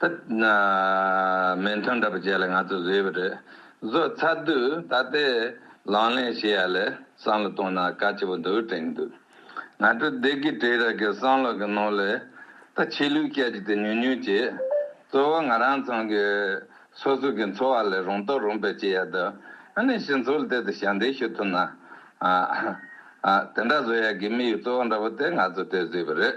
ད་མན་ཐོན་འདྲ་པོ་བྱས་ལ་ང་ཚོ་བཟོས་པ་རེད། བཟོ་ཚར་དུས་ད་ལྟའི་ལང་ལེན་བྱེད་ཡ་ལས་བསམ་བློ་གཏོང་ན་དཀའ་ཆེ་པོ་འདུག་དྲན་གི་འདུག་ང་ཚོ་བདེ་སྐྱིད་བྲེལ་ར་གི་བསམ་བློ་གི་ནང་ལས་ད་ཆོས་ལུགས་སྐད་ཅིག་དེ་ཉུང་ཉུང་བྱེད། གཙོ་བོ་ང་རང་ཚང་གི་སོ་སོ་གི་འཚོ་བ་ལས་རུང་རྟོག་རུང་པའི་བྱེད་ཡ་དུ་ཨ་ནེ་ཞི་འཚོ་ལ་དེ་དུ་ཞབས་འདེགས་ཞུ་ཐུབ་ན། དེ་འདྲ་བཟོ་ཡ་གི་མི་ཡི་གཙོ་བོ་འདྲ་པོ་དེ་ང་ཚོ་དེ་བཟོས་པ་རེད།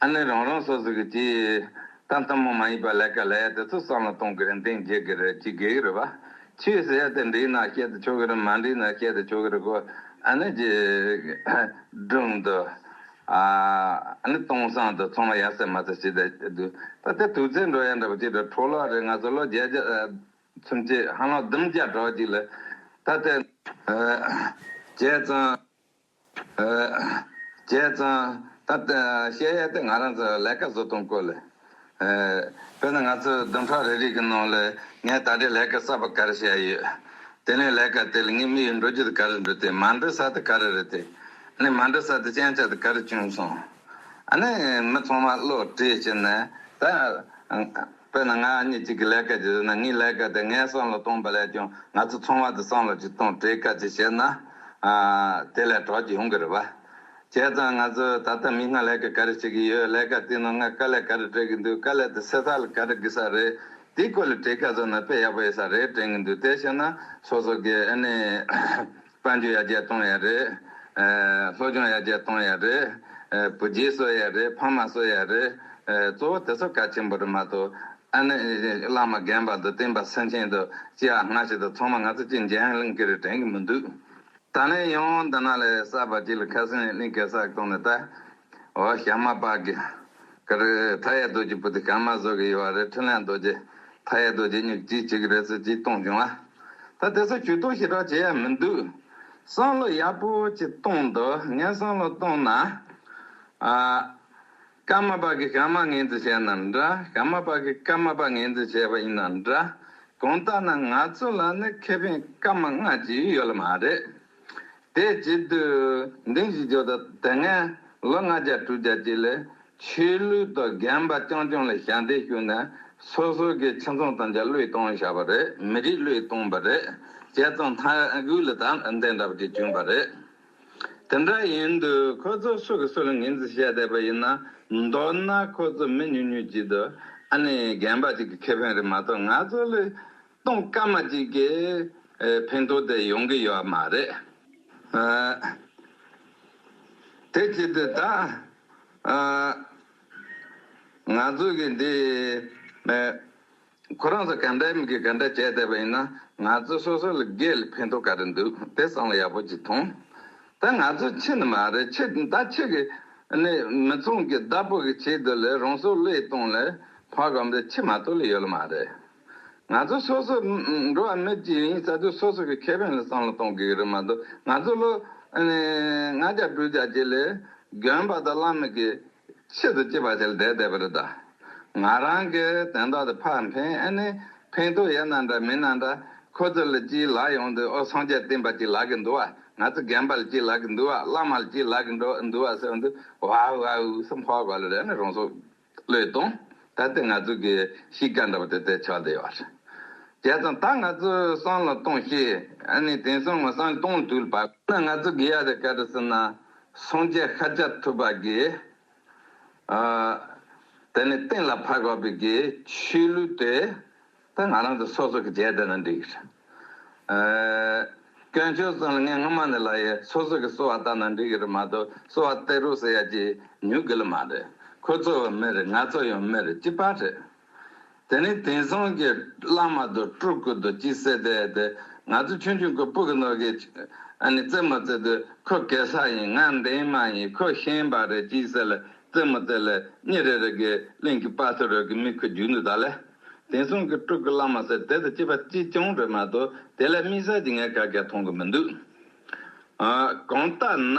ཨ་ནི་རང་རང་སོ་སོ་གི་སྤྱི། ད་ལྟ་མོ་མ་ཡིན་པ་ལས་ཀ་ལས་དེ་ཚོ་བསམ་བློ་གཏོང་གི་རེད་འདེང་བྱེད་ཀྱི་རེད་ཅི་དགེ་གི་རེད་བ། ཆོས་ཟེར་ཡ་དེ་འགྲིག་ན་བཤད་དུ་ཆོག་གི་རེད་མ་འགྲིག་ན་བཤད་དུ་ཆོག་གི་རེད་གོ། ཨ་ནི་རྗེས། དྲུང་དུ། ཨ་ནི་སྟོང་བསང་དུ་ཚང་མ་ཡ་ཟེར་མ་ཟེར་བྱེད་དེ་སྡུག་ད་ལྟ་དུག་རྫས་འགྲོ་ཡ་འདྲ་པོ་ཅིག་འགྲོ་འཕྲོ་བརླག་རེད་ང་ཚོ་ལོ་བརྒྱད་བརྒྱ། ཚུན་བཅད་ཧ་ལམ་བདུན་བརྒྱ་གྲོགས་ཅིག་ལ། ད་ལྟ། བྱས་ཙང། བྱས་ཙང། ད་བཤད་ཡས་དེ་ང་རང་ཚོ་ལས་ཀ་བཟོ་སྟངས་སྐོར་ལས། དཔེར་ན་ང་ཚོའི་བདུན་ཕྲག་རེ་རེ་གི་ནང་ལས་ངས་ད་རེས་ལས་ཀ་གསར་པ་ག་རེ་བྱས་ཡོད། དེ་ནས་ལས་ཀ་དེ་ལ་ངས་མི་ཡི་འགྲོ་རྒྱུ་དེ་ག་རེ་འགྲོ་དེ་མ་འགྲོ་ས་དེ་ག་རེ་རེད་དེ། ནས་མ་འགྲོ་ས་དེ་གཅན་ཆ་དེ་ག་རེ་བྱུང་སོང། ཨ་ནས་མི་ཚང་མ་བློ་བྲིས་བྱས་ནས་ད། དཔེར་ན་ང་གཉིས་གཅིག་གི་ལས་ཀ་ཞིག་རེད་ན་ངའི་ལས་ཀ་དེ་ངའི་སྲང་ལ་གཏོང་པ་ལས་ཀྱང་ང་ཚོ་ཚང་མ་དེ་སྲང་ལ་ཅིག་གཏོང་བྲལ་ཀ་ཅིག་བྱས་ན། དེ་ལས་གྲོགས་ཀྱི་ཡོང་གི་རེད་པ། བྱས་ཙང་ང་ཚོས་ད་ལྟ་མིག་སྔར་ལས་ཀ་ག་རེ་བྱེད་ཀྱི་ཡོད་ལས་ཀ་དེའི་ནང་ང་དཀའ་ལས་ག་རེ་སྤྲད་ཀྱི་འདུག་དཀའ་ལས་དེ་སེལ་ས་ལ་ག་རེ་དགོས་ས་རེད། དེའི་སྐོར་ལ་བྲིས་ཁ་བཟོས་ན་དཔེ་ཡག་པོ་ཡོད་ས་རེད་དྲན་གྱི་འདུག་དེ་བྱས་ན་སོ་སོ་གིས་ཨ་ནི། དཔལ་འབྱོར་ཡར་རྒྱས་གཏོང་ཡས་རེད། སློབ་སྦྱོང་ཡར་རྒྱས་གཏོང་ཡས་རེད། བུ་རྗེས་གསོ་ཡས་རེད་ཕ་མ་གསོ་ཡས་རེད། གཙོ་བོ་དེ་ཚོ་གལ་ཆེན་པོ་རེད་མ་གཏོགས། ཨ་ནེ་བླ་མ་རྒན་པ་དང་བསྟན་པ་སེང་ཆེན་དང་སྐྱེ་བ་སྔ་ཕྱི་དང་ཚང་མ་ང་ཚོ་གཅིག་མཇལ་ཡང་གླིང་གེ་རེད་དྲན་གི་མི་འདུག། ད་ལན་ཡང་འདི་ན་ལས་གསར་པ་གཅིག་ལ་ཁ་སེང་གླིང་གེ་གསར་གཏོང་ནས་ད། འོ་ཞག་མ་པག་གི། ཀ་རེ། མཐའ་ཡས་རྡོ་རྗེ་བུ་དེ་གང་མ་བཟོད་ཀྱི་ཡོད་རེད་ཕྲིན་ལས་རྡོ་རྗེ། མཐའ་ཡས་རྡོ་རྗེ་སྨྱུག་གཅིག་གཅིག་རེད་ཟེར་གྱིས་གཏོང་བྱུང་ཨ། ད་དེ་ཚོ་ཇུས་གཏོགས་ཞེ་དྲག་བྱེད་ཡ་མི་འདུག། བསམ་བློ་ཡག་པོ་གཅིག་གཏོང་འདོད་ངས་བསམ་བློ་གཏོང་ན། ཨ། ཀརྨ་པ་གིས་ཀརྨ་ངན་རྩིས་བྱས་ན་འདྲ་ཀརྨ་པ་གིས་ཀརྨ་པ་ངན་རྩིས་བྱས་པ་ཡིན་ན་འདྲ། གང་ལྟར་ན་ང་ཚོ་ལ་ནི་ཁེ་ཕན་སྐར་མ་ལྔ་ཅིག་ཡོད་ལ་མ་རེད། དེའི་རྗེས་དུས་འདིང་བཞི་ཇོ་དང་དེ་སྔའི་ལོ་ལྔ་བརྒྱ་དྲུག་བརྒྱ་བཅས་ལས་ཆོས་ལུགས་དང་རྒན་པ་རྐྱང་རྐྱང་ལ་ཞལ་འདེབས་ཞུས་ནས་སོ་སོ་གི་ཁྱིམ་ཚང་དང་ཆ་ལུགས་སྟོང་བཞག་པ་རེད་མི་རིགས་ལུས་སྟོང་པ་རེད་བྱས་ཙང་ལྷ་དགུའི་ལ་དྭགས་འདི་འདྲ་བ་ཅིག་བྱུང་བ་རེད། དེ་འདྲ་ཡིན་དུས་ཁོ་ཚོ་སུ་གི་སུ་ལ་ངེས་འཛིན་བྱས་བསྡད་པ་ཡིན་ན་མདོར་ན་ཁོ་ཚོ་མི་ཉུང་ཉུང་བྱས་དུས་ཨ་ནི་རྒན་པ་ཅིག་གི་ཁེ་ཕན་རེད་མ་གཏོགས་ང་ཚོ་ལས་སྟོང་སྐད་མ་གཅིག་གིས་ཕན་ཐོགས་དེ་ཡོང་གི་ཡོད་མ་རེད། དེ་བྱེད་དུས་ད། ང་ཚོ་གིས་འདི། ཁོ་རང་ཚོ་ག་འདྲ་མི་གིས་ག་འདྲ་བྱས་བསྡད་པ་ཡིན་ན་ང་ཚོ་སོ་སོ་ལ་སྒེར་ལ་ཕན་ཐོགས་ག་རེ་འདུག་དེ་བསམ་བློ་ཡག་པོ་གཅིག་ཐོངས། ད་ང་ཚོ་ཕྱི་ནས་མ་རེད་ཕྱི་ད་ཕྱི་གི་ནི་མི་ཚོང་གི་བདག་པོ་གི་བྱེད་དུ་ལས་རང་སྲོག་བློས་གཏོང་ལ་ཕ་གང་པོས་ཕྱི་མ་གཏོགས་ལ་ཡོད་ལ་མ་རེད། ང་ཚོ་སོ་སོ་འགྲོ་བ་མི་སྤྱིའི་རིང་ས་རྡུལ་སོ་སོ་གི་ཁེ་ཕན་ལ་བསམ་བློ་གཏོང་དགོས་ཀྱི་རེད་མ་གཏོགས་ང་ཚོ་ལོ་ལྔ་བརྒྱ་དྲུག་བརྒྱ་བྱས་ལས་གྱོན་པ་དང་བླ་མེད་ཀྱི་ཆེད་དུ་སྐྱིད་པ་བྱས་ལ་བསྡད་བསྡད་པ་རེད་ད། ང་རང་གི་དོན་དག་དེ་ཕར་འཕེན་ཨེ་ནི་འཕེན་ཐུབ་ཡས་ན་འདྲ་མིན་ན་འདྲ་ཁོ་ཚོ་ལ་སྐྱིད་ལག་ཡོང་དུས་ཨོ་སངས་རྒྱས་བསྟན་པ་སྐྱིད་ལག་གི་འདུག་ཨ་ང་ཚོ་རྒན་པ་ལ་སྐྱིད་ལག་གི་འདུག་ཨ་བླ་མ་ལ་སྐྱིད་ལག་གི་འདུག་ཨ་ཟེར་བ་འདི་ཝའུ་ཝའུ་ཟེར་འཕོ་བ་གོ་ལ་རེད་ནི་རང་སྲོག་བློས་གཏོང། ད་ལྟའི་ང་ཚོའི་གི་གཤིས་ཀ་འདྲ་པོ་དེ་དེ་ཆགས་བསྡད་ཡོད། བྱས་ཙང་ད་ང་ཚོ་སང་ལ་གཏོང་ཤེས། ཨ་ནི་དེང་སང་ང་སང་གཏོང་དུས་པ། ན་ང་ཚོ་གི་ཡ་རེ་ག་རེ་ཟེར་ན་སོང་ཆས་ཤ་ཆ་ཐུབ་པ་གི། ཨ། དེ་ནི་སྟེང་ལ་ཕར་བབས་པའི་གི་ཆུས་ལུས་དེ། ད་ང་རང་ཚོ་སོ་སོ་གི་རྗེས་དེད་ན་འགྲིག། སྐྱོན་བརྗོད་གསུངས་ལ་ངས་སྔོན་མ་ནས་ལབ་ཡས་སོ་སོ་གི་གསོལ་བ་བཏབ་ན་འགྲིག་གི་རེད་མ་གཏོགས་གསོལ་བ་སྟེར་རོགས་ཟེར་ཡ་ཀྱི་ཉུག་གི་ལ་མ་རེད་ཁོ་ཚོ་བ་མི་རེད་ང་ཚོ་ཡང་མི་རེད་ཅི་པ་རེད། དེ་ནས་དེང་སང་གི་བླ་མ་དང་སྤྲུལ་སྐུ་དང་ཅི་ཟེར་དེ་དེ་ང་ཚོ་ཆུང་ཆུང་གི་སྤུ་གི་ནོར་གི་ཨ་ནི་རྩེད་མོ་རྩེ་དུས་ཁོ་གེ་སར་ཡིན་ང་འདན་མ་ཡིན་ཁོ་ཤན་པ་རེད་ཅི་ཟེར་ལ་རྩེད་མོ་རྩེ་ལ་གཉིད་རེ་རེ་གི་གླིང་གི་དཔའ་ཐུ་རོལ་གི་མི་ཁུ་རྒྱུག་འདུག་ད་ལས། དེང་སང་གི་སྤྲུལ་སྐུ་བླ་མ་ཟེར་དེ་དང་སྐྱེས་པ་གཅིག་རྐྱང་རེད་མ་གཏོགས་དེ་ལས་དམིགས་བསལ་གྱི་ངས་ག་གེ་མཐོང་གི་མི་འདུག། གང་ལྟ་ན།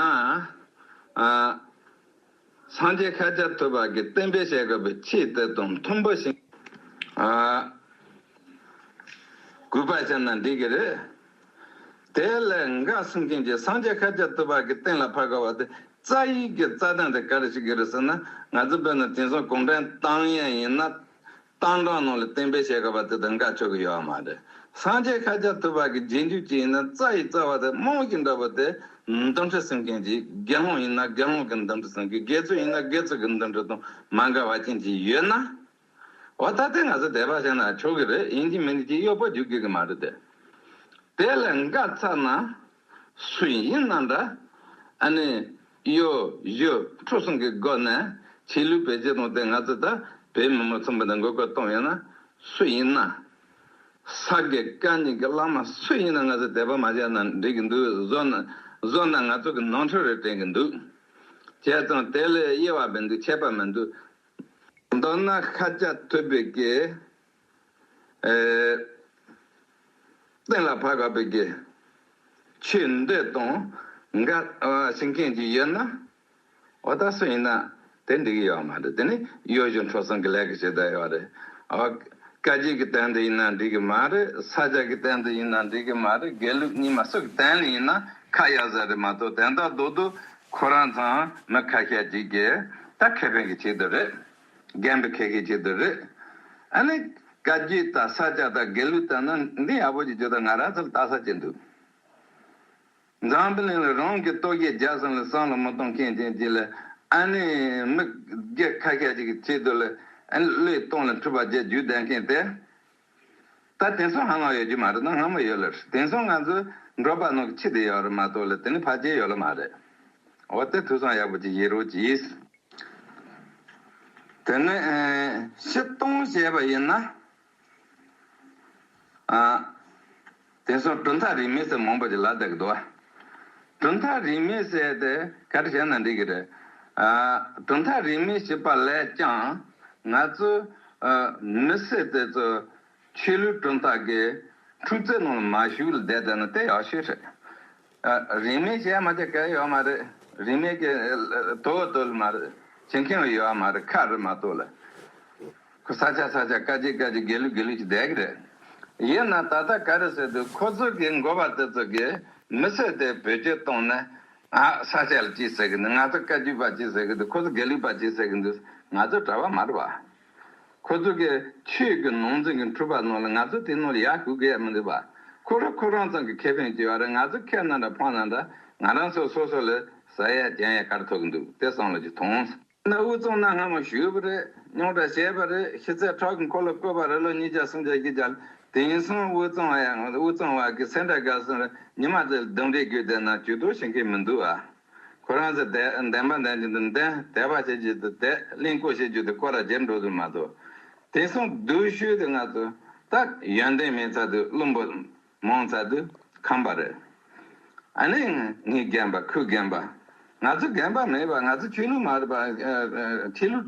སངས་རྒྱས་ཤཱཀྱ་ཐུབ་པ་གིས་བསྟན་པའི་བཤད་དགོས་པའི་ཆེས་དེ་དང་མཐུན་པ་ཞིག། གུས་པར་བྱས་ན་འགྲིག་གི་རེད། དེ་ལས་འགའ་གསུང་མཁན་གྱིས་སངས་རྒྱས་ཤཱཀྱ་ཐུབ་པ་གིས་གཏན་ལ་ཕབ་དགོས་པ་དེ་རྩ་ཡིག་གི་རྩ་དོན་དེ་ག་རེ་ཞིག་གི་རེད་ཟེར་ན་ང་ཚོ་བོད་ནང་དེང་སང་གུང་ཁྲན་ཏང་ཡོན་ཡིན་ན། གཏམ་གང་ནང་ལ་བསྟན་པའི་བཤད་གྲྭ་བ་དེ་དང་འགའ་ཆོག་གི་ཡོད་མ་རེད། སངས་རྒྱས་ཤཱ་ཀྱ་ཐུབ་བ་གི་རྗེས་འཇུག་ཅིག་ཡིན་ན་རྩ་ཡི་རྩ་བ་དེ་རྨོངས་ཀྱི་འདྲ་བོ་དེ། འདུམ་འགྲིག་སེམས་མཁན་གྱིས་དགེ་སློང་ཡིན་ན་དགེ་སློང་གི་འདུམ་འགྲིག་སེམས་ཀྱི་དགེ་ཚུལ་ཡིན་ན་དགེ་ཚུལ་གྱི་འདུམ་འགྲིག་དང་མ་འགལ་བ་ཅན་གྱིས་ཡོད་ན། འོ་ད་ལྟའི་ང་ཚོ་དད་པ་བྱས་ན་ཆོག་གི་རེད་ཡིན་གྱི་མིན་གྱི་གཡོག་པོ་རྒྱུག་དགོས་ཀྱི་མ་རེད་དེ། དེ་ལས་འགའ་ཚར་ན། སུ་ཡིན་ན་འདྲ། ཨ་ནི། གཡོ། གཞོ། ཁྲོ་གསུམ་གྱི་སྒོ་ནས། ཆེས་ལུས་པའི་རྗེས་གཏོང་དེ་ང་ཚོས་ད་བོད་མི་མང་ཚོགས་མུ་མཐུད་འགོ་བཀོད་གཏོང་ཡོད་ན། སུ་ཡིན་ན། ས་དགེ་བཀའ་རྙིང་གི་བླ་མ་སུ་ཡིན་ན་ང་ཚོས་དད་པ་མ་བྱས་ན་འགྲིག་གི་འདུག་བཟོ་ན་ང་ཚོ་གི་ནོར་འཁྲུལ་རེ་དྲན་གི་འདུག་བྱས་ཙང་དེ་ལས་གཡེལ་བ་མི་འདུག་ཆད་པ་མི་འདུག། མདོར་ན་ཤཱཀྱ་ཐུབ་པའི་སྐད། བསྟན་ལ་བར་བབས་པའི་དགེ། ཆོས་འདོད་དང་འགལ་བྱེད་མཁན་ཅིག་ཡོད་ན། འོ་ད་སུ་ཡིན་ན་དེ་འགྲིག་གི་ཡོད་མ་རེད་དེ་ནི་གཡོ་སྒྱུ་འཕྲོག་བསྲུང་གི་ལས་ཀྱི་བྱེད་སྟངས་ཡོད་རེད། བཀའ་རྒྱུད་ཀྱི་སྟེང་དུ་ཡིན་ན་འགྲིག་གི་མ་རེད་ས་བཅད་ཀྱི་སྟེང་དུ་ཡིན་ན་འགྲིག་གི་མ་རེད་དགེ་ལུགས་གཉིས་མ་སུ་ཀྱི་སྟེང་ནས་ཡིན་ན་ཁ་གཡར་ས་རེད་མ་གཏོགས་དེ་འདྲ་སྡུག་སྡུག་ཁོ་རང་ཚང་མི་ཁ་ཤས་ཀྱིས་ཀྱི་ད་ཁེ་ཕན་གྱི་ཆེད་དུ་རེད། རྒན་པོ་ཁེ་ཁེ་ཅིག་དེ་རེད། ཨ་ནི། བཀའ་བརྒྱུད་དང་ས་སྐྱ་དང་དགེ་ལུགས་དང་ནི་འདི་ཡག་པོ་ཅིག་བརྗོད་དང་ང་རང་ཚོར་བལྟ་ས་ཅིག་འདུག། འཛམ་བུ་གླིང་ལ་རང་གི་ལྟོ་གོས་འཇགས་སོང་ལ་སྲང་ལ་མི་གཏོང་མཁན་རྒྱན་གཅིག་ལ་ཨ་ནི། མི་སྒེར་ཁ་ཤས་ཅིག་གི་ཆེད་དུ་ལ་ཨ་ནི་བློས་གཏོང་ལ་འཁྲུལ་པ་བརྒྱད་བརྒྱུད་བསྡད་མཁན་དེ་ད་དེང་སང་ཧ་མ་ཡོད་རྒྱུ་མ་རེད་ན་སྔ་མོ་ཡོད་ལ་རེད་དེང་སང་ང་ཚོ་འགྲོ་པ་ནང་གི་ཕྱི་དེ་ཡོད་རེད་མ་གཏོགས་ལ་དེ་ནི་ཕ་རྒྱལ་ཡོད་ལ་མ་རེད་འོ་དེ་དུས་སང་ཡག་པོ་ཅིག་ཡིན་རུང་གྱིས། དེ་ནི་ཕྱི་གཏོང་བྱས་པ་ཡིན་ན། དེ་སོགས་གྲུབ་མཐའ་རིས་མེད་ཟས་མང་པོ་ཞིག་ལ་བརྡལ་གྱི་འདུག། གྲུབ་མཐའ་རིས་མེད་ཟས་དེ་ག་རེ་བྱས་ན་འགྲིག་གི་རེད། གྲུབ་མཐའ་རིས་མེད་བྱེད་པ་ལས་ཀྱང། ང་ཚོའི་མི་སེར་དེ་ཚོ་ཆོས་ལུགས་གྲུབ་མཐའ་གི་འཁྲུག་རྩོད་ནང་ལ་མ་ཞུགས་ལ་བསྡད་བསྡད་ན་དེ་ཡག་ཤོས་རེད། རིན་མེད་བྱས་མ་བྱས་གལ་ཡོད་མ་རེད། རིན་མེད་ཀྱི་དོ་བོ་དོལ་མ་རེད། བྱེད་མཁན་བ་ཡོད་མ་རེད་ཁ་རེད་མ་གཏོགས་ལ། ཁོ་ས་ཆ་ས་ཆ་དཀའ་སྤྱད་དཀའ་སྤྱད་དགེ་ལུགས་དགེ་ལུགས་ཀྱི་བསྡད་ཀྱི་རེད། ཡིན་ན་ད་ལྟ་ག་རེ་ཟེར་དུས་ཁོ་ཚོ་གི་མགོ་བ་དེ་ཚོ་གི་མི་ཚེ་དེ་བེད་སྤྱོད་གཏོང་ན། ཨ་ས་ཆ་ལ་ཅི་ཟེར་གྱི་འདུག་ང་ཚོ་བཀའ་བརྒྱུད་པ་ཅི་ཟེར་གྱི་འདུག་ཁོ་ཚོ་དགེ་ལུགས་པ་ཅི་ཟེར་གྱི་འདུག་ང་ཚོ་གྲྭ་བ་མ་རེད་བ། ཁོ་ཚོ་གིས་ཆོས་ཀྱི་ནོར་འཛིན་གྱི་འཁྲུལ་པ་ནོར་ལ་ང་ཚོ་དེ་ནོར་ཡག་ཞུ་གི་ཡ་མི་འདུག་བ། ཁོ་རང་ཁོ་རང་ཚང་གི་ཁེ་ཕན་གྱི་བ་རེད་ང་ཚོ་ཁེ་ན་འདྲ་ཕོག་ན་འདྲ་ང་རང་ཚོ་སོ་སོ་ལས་ཟ་ཡ་བརྒྱན་ཡ་ག་རེ་ཐོག་གི་འདུག་དེ་བསམ་བློ་གྱིས་ཐོངས། ད་ནི་དབུས་གཙང་ན་སྔ་མོ་ཞུས་པ་རེད་རྙོག་དྲ་བཤད་པ་རེད་ཤི་ཚད་ཁྲག་གི་འཁོར་ལོ་བསྐོལ་བ་རེད་ལོ་གཉིས་བརྒྱ་སུམ་བརྒྱ་བཞི་བརྒྱ་ལ་དེང་སང་དབུས་གཙང་བ་ཡང་དབུས་གཙང་བ་གི་སེ་འདྲ་དགའ་སོང་རེད་ཉི་མ་ཚེ་ལ་རྡུང་རེས་བརྒྱུད་བསྡད་ན་ཇུས་གཏོགས་བྱེད་མཁན་མི་འདུག་བ། ཁོ་རང་ཚོས་དད། འདེམས་པ་འདེམས་བྱེད་དུ་འདེམས། དད་པ་བྱེད་བྱེད་དུ་དད། གླིང་བསྐོ་བྱེད་བྱེད་དུ་བསྐོ་ར་བྱེད་འགྲོ་དུ་མ་དོ། དེང་སང་བསྡུ་ཤུལ་དེ་ང་ཚོ་ལྟར་ཡོན་ཏན་མེད་ཚར་དུས་བླུན་པོ་མང་ཚར་དུས་ཁམས་པ་རེད། ཨ་ནེ། ངས་རྒན་པ་ཁོས་རྒན་པ། ང་ཚོ་རྒན་པ་མེད་པ་ང་ཚོ་ཆོས་ལུགས་མ་རེད་པ། ཆོས་ལུགས་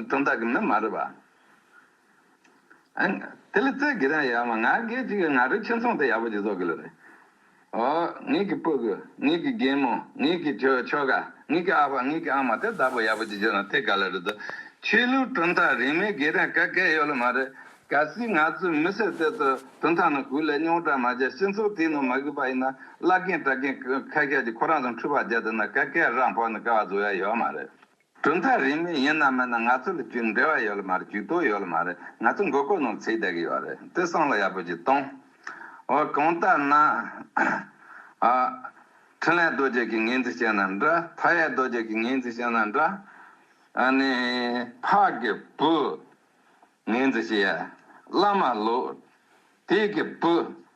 གྲོང་རྡལ་གྱི་མི་མ་རེད་པ། དེ་ལས་རྩེ་གི་རང་ཡ་མ་ང་གི་གཅིག་གི་ང་རོ་ཁྱི་མཚུངས་དེ་ཡག་པོ་ཅིག་བཟོ་གི་ལོ་རེ། ཨོ། ངེད་གི་སྤུ་གུ། ངེད་གི་རྒན་མོ། ངེད་གི་ཁྱོ་ཁྱོ་ག། ངེད་གི་ཨ་ཕ་ངེད་གི་ཨ་མ་དེ་བདག་པོ་ཡག་པོ་ཅིག་བྱོས་ན་དེ་ག་ལ་རེད་དོ། ཆོས་ལུགས་གྲུབ་མཐའ་རིང་མའི་སྒེར་རང་ག་གས་ཡོད་ལ་མ་རེད། ག་སྲིད་ང་ཚོའི་མི་སེར་དེ་ཚོ་གྲུབ་མཐའ་ནང་གུས་ལས་རྙོག་དྲ་མ་བྱས་སྤྱི་ཚོགས་དེའི་ནང་མ་གུས་པ་ཡིན་ན་བླ་རྒན་གྲ་རྒན་ཁ་ཤས་ཀྱིས་ཁོ་རང་ཚོ་འཁྲུས་པ་བྱས་དེ་ན་ག་གས་རང་ཕོག་ནས་ཀ་བ་བཟོ་ཡ་ཡོད་མ་རེད། གྲུབ་མཐའ་རིས་མེད་ཡིན་ནམ་མིན་ན་ང་ཚོ་ལ་རྒྱུས་འབྲེལ་བ་ཡོད་ལ་མ་རེད་རྒྱུས་དོགས་ཡོད་ལ་མ་རེད་ང་ཚོ་མགོ་སྐོར་ནང་ཚེའི་བསྡད་གི་ཡོད་རེད་དེ་སང་ལ་ཡག་པོ་ཅིག་གཏོང་འོ་གང་ལྟར་ན། ཨ། འཕྲིན་ལས་རྡོ་རྗེ་གི་ངེས་འཛིན་བཤད་ན་འདྲ་མཐའ་ཡས་རྡོ་རྗེ་གི་ངེས་འཛིན་བཤད་ན་འདྲ། ཨ་ནི། འཕགས་ཀྱི་བུ། ངེས་འཛིན་བཤད། བླ་མ་ལོ། དེའི་གི་བུ།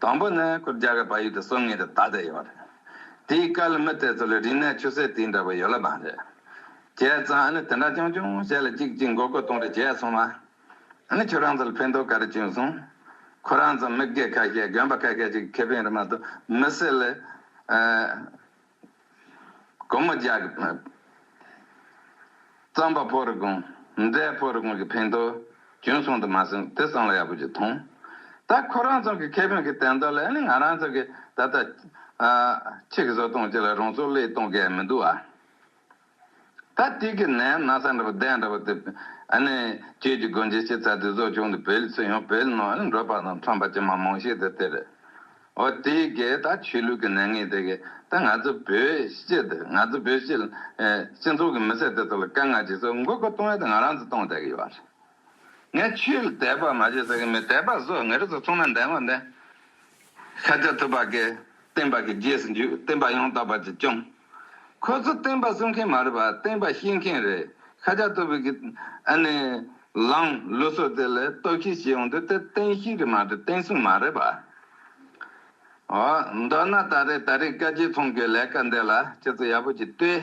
དང་པོ་ནི་སྐུ་བརྒྱ་ག་བ་ཡུལ་དུ་སོང་ངེས་དེ་ད་ལྟ་ཡོད་རེད། དེའི་སྐལ་མི་དེ་ཚོ་ལ་རིག་གནས་ཆུ་ཟད་དེ་འདྲ་བ་ཡོད་ལབ་པ་རེད། བྱས་ཙང་ཨ་ནི་དེ་འདྲ་ཆུང་ཆུང་བྱས་ལ་ཅིག་ཅིག་མགོ་སྐོར་གཏོང་རེ་བྱས་སོང་བ། ཨ་ནི་ཁྱོད་རང་ཚོ་ལ་ཕན་ཐོགས་ག་རེ་བྱུང་སོང། ཁོ་རང་ཚོ་མི་སྒེར་ཁ་ཤས་དགོན་པ་ཁ་ཤས་ཅིག་གི་ཁེ་ཕན་རེད་མ་གཏོགས་མི་སེར་ལ། གོ་མོ་རྒྱག། རྩམ་པ་ཕོར་གོང། མཛེས་ཕོར་གོང་གི་ཕན་ཐོགས་རྒྱུན་སོང་དུ་མ་སོང་དེ་བསམ་བློ་ཡག་པོ་ཅིག་ཐོངས། ད་ཁོ་རང་ཚང་གི་ཁེ་ཕན་གྱི་དན་ཏོག་ལས་ནི་ང་རང་ཚང་གི་ད་ལྟ། ཁྱེད་ཀྱི་བཟོ་སྟངས་ཅིག་ལ་རང་ཚོ་བློས་གཏོང་དགོས་ཡ་མི་འདུག་ཨ། ད་ཐིག་གི་ནས་ན་ས་འདྲ་པོ་བདེ་འདྲ་པོ་དེ། ཨ་ནི། ཁྱོད་ཀྱི་དགོན་ཆེན་ཆེ་ཚ་དེ་བཟོ་བཅུག་འདུག་བོད་སྤྱི་ཡོངས་བོད་ནང་ནས་འབྲོག་པ་དང་ཁྲོམ་པ་ཅན་མང་མང་ཞིག་དེ་དེ་རེད། འོ་དེ་གས་ད་ཆོས་ལུགས་ཀྱི་ནད་ངན་དེ་གས་ད་ང་ཚོ་བོད་སྤྱི་དེ་ང་ཚོ་བོད་སྤྱི། སྤྱི་ཚོགས་ཀྱི་མི་སེར་དེ་ཚོ་ལ་དཀའ་ངལ་ཅིག་ཚོ་མགོ་སྐོར་གཏོང་ཡ་དེ་ང་རང་ཚོ་གཏོང་བསྡད་ཀྱི་ཡོད་རེད། ངས་ཆོས་དད་པ་མ་བྱེད་ཟེར་གི་མེད་དད་པ་བཟོ་ངེས་རེད་ཟེར་ཚོང་ན་འདན་བ་འདན། ཤ་རྒྱགས་ཐུབ་པ་གི་བསྟན་པ་གི་རྗེས་སུ་འཇུག་བསྟན་པ་ཡང་དག་པ་གྱི་སྐྱོང། ཁོ་ཚོ་བསྟན་པ་གསུང་མཁན་མ་རེད་པ་བསྟན་པ་ཤེས་མཁན་རེད་ཤ་རྒྱགས་ཐུབ་པའི་གི་ཨ་ནི་ལངས་ལུགས་སོགས་དེ་ལས་རྟོག་ཤེས་བྱེད་ཡོང་དུས་དེ་བསྟན་ཤེས་རེད་མ་རེད་བསྟན་སྲུང་མ་རེད་པ། འོ་མདོར་ན་ད་རེས་ད་རེས་བཀའ་སྤྱི་ཚོང་གི་ལས་ཀ་འདི་ལ་ཁྱེད་ཚོ་ཡག་པོ་གྱིས་ལྟོས།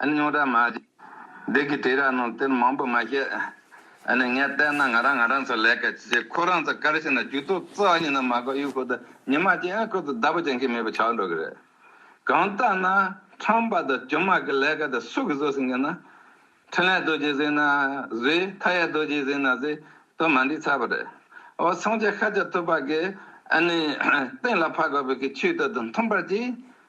ཨ་ནི་རྙོག་དྲ་མ་བྱེད། བདག་གིས་དྲི་ར་རྣམས་དེར་མང་པོ་མ་བཤད། ཨ་ནི་ངས་བལྟས་ན་ང་རང་ང་རང་ཚོ་ལས་ཀ་བྱེད་ཁོ་རང་ཚོ་དཀར་ཕྱིན་ན་ཇུས་གཏོགས་གཙོ་བ་ཡིན་ན་མ་གོ་གཡུ་ཁོ་དང་ཉི་མ་ཅན་ཁོ་ཚོ་བདག་པོ་བྱེད་མཁན་མེད་པ་ཆགས་འགྲོ་གི་རེད། གང་ལྟ་ན་ཁྲམ་པ་དང་ཇོ་མག་གི་ལས་ཀ་དེ་སུ་གིས་བཟོ་ཟིན་གི་ན། འཕྲིན་ལས་རྡོ་རྗེས་ཟིན་ན་ཟིན་མཐའ་ཡས་རྡོ་རྗེས་ཟིན་ན་ཟིན་དོན་མ་འགྲིག་ཚར་བ་རེད། འོ་སངས་རྒྱས་ཤཱཀྱ་ཐུབ་པ་གིས་ཨ་ནི་སྟེང་ལ་ཕ་ག་བུ་གི་ཆུའི་ལྟོད་དུ་མཐུན་པར་གྱིས།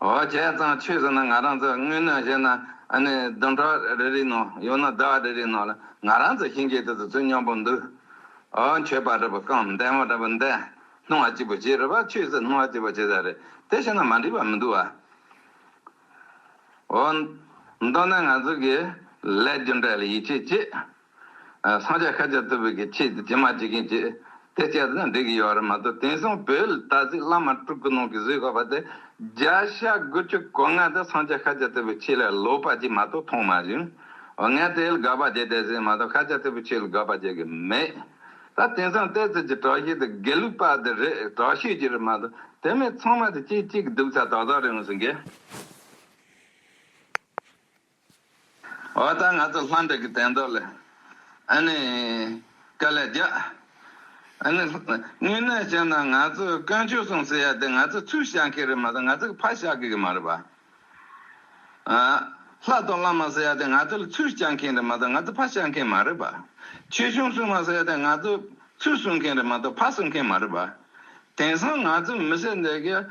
ཨོ་བྱས་ཙང་ཆོས་ཟེར་ན་ང་རང་ཚོ་དངོས་གནས་བཤད་ན་ཨ་ནི་བདུན་ཕྲག་རེ་རེའི་ནང་ཡང་ན་ཟླ་བ་རེ་རེའི་ནང་ལ་ང་རང་ཚོ་ཞིང་ཆེན་དེ་ཚོ་ཚོས་སྙམ་པོ་འདུག་ཨོ་མཆོད་པ་རེད་པ་གང་བདེན་མོ་རེད་པ་འདེ་སྣང་བ་སྐྱིད་པོ་བྱེད་རེད་པ་ཆོས་ཟེར་སྣང་བ་སྐྱིད་པོ་བྱེད་ས་རེད་དེ་བཤད་ན་མ་འགྲིག་པ་མི་འདུག་ཨོ་མདོར་ན་ང་ཚོ་གི་ལས་རྒྱུ་འབྲས་ལ་ཡིད་ཆེས་བྱེད་སངས་རྒྱས་ཁ་ཅིག་བསྟོད་པའི་གི་ཆེད་དུ་ཇི་མ་ཇི་གིན་བྱེད། དེ་བྱས་ཙང་འགྲིག་གི་ཡོད་རེད་མ་གཏོགས་དེང་སང་བོད་ལ་ད་གཟིགས་བླ་མ་དཀྲུག་གི་ནང་གི་བཟོས་ཁ་བ་དེ་བརྒྱ་ཤ་དགུ་བཅུ་གོ་ལྔ་དེ་སངས་རྒྱས་ཁ་ཅིག་བསྟོད་པའི་ཆེད་ལ་ལོག་པ་ཅིག་མ་གཏོགས་མཐོང་མ་བྱུང། འོ་ངས་དེ་ལ་དགག་པ་བྱེད་བསྡད་ཟིན་མ་གཏོགས་ཁ་ཅིག་བསྟོད་པའི་ཆེད་ལ་དགག་པ་བྱེད་གི་མེད། ད་དེང་སང་བལྟས་ཚོད་ཀྱི་དྲག་ཤུལ་དེ་དགེ་ལུགས་པ་དེ་རེད་དྲག་ཤུལ་གྱི་རེད་མ་གཏོགས་དེ་མིན་ཚང་མ་དེ་སྐྱིད་སྐྱིད་གི་སྡུག་ཚ་དག་དག་རེད་ངོས་ཟིན་གི། འོ་ད་ང་ཚོ་ལྷ་འདྲེ་གི་དན་ཏོག་ལ་ཨ་ནི་དཀའ་ལས་རྒྱག། ཨ་ནི་དངོས་གནས་བཤད་ན་ང་ཚོས་དཀོན་མཆོག་སྲུང་ཟེར་ཡ་དེ་ང་ཚོས་ཚུར་བཤགས་མཁན་རེད་མ་གཏོགས་ང་ཚོ་གི་ཕ་བཤགས་མཁན་གི་མ་རེད་པ། ལྷ་གཏོགས་བླ་མ་ཟེར་ཡ་དེ་ང་ཚོ་ལ་ཚུར་བཤགས་མཁན་རེད་མ་གཏོགས་ང་ཚོ་ཕ་བཤགས་མཁན་མ་རེད་པ། ཆོས་གཞུང་སྲུང་མ་ཟེར་ཡ་དེ་ང་ཚོས་ཚུར་སྲུང་མཁན་རེད་མ་གཏོགས་ཕ་སྲུང་མཁན་མ་རེད་པ། དེང་སང་ང་ཚོ་མི་སེར་འདི་གིས་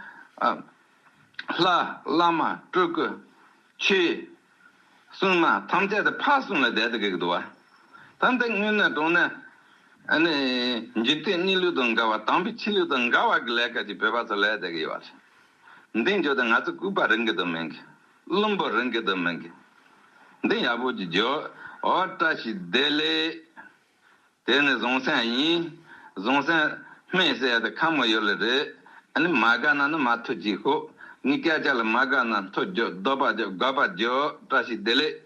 ལྷ་བླ་མ་སྤྲུལ་སྐུ་ཆུ། སྲུང་མ་ཐམས་ཅད་དུ་ཕར་སོང་ལ་བཟླས་དུ་བགེགས་བསྡུ་བ། ད་འདི་སྔོན་ནས་དྲོངས་ནས། འཇིག་རྟེན་གནས་ལུགས་དང་འགལ་བ་དང་པོའི་ཕྱི་ལུགས་དང་འགལ་བ་གི་ལས་ཁ་ཅིག་བོད་པ་ཚོ་ལས་བསྡད་ཀྱི་ཡོད་རེད། འདི་མཇུག་ཏུ་ང་ཚོ་ལྐུགས་པ་རིན་གྱི་དོན་མིན་གྱི། བླུན་པོ་རིན་གྱི་དོན་མིན་གྱི། འདི་ཡག་པོ་ཅིག་བརྗོད་འོ་བཀྲ་ཤིས་བདེ་ལེགས། དེ་ནི་བཟང་སེམས་ཡིན། བཟང་སེམས། སྨན་བསད་དེ་ཁ་མོ་ཡོད་ལ་རེད། ནི་མ་དགའ་ན་ནི་མ་ཐུག་ཅིག་ཧོ། ནི་སྐད་ཆ་ལ་མ་དགའ་ན་མཐོ་རྒྱོ་རྡོ་པ་རྒྱོ་དགའ་པ་རྒྱོ་བཀྲ་ཤིས་བདེ་ལེགས།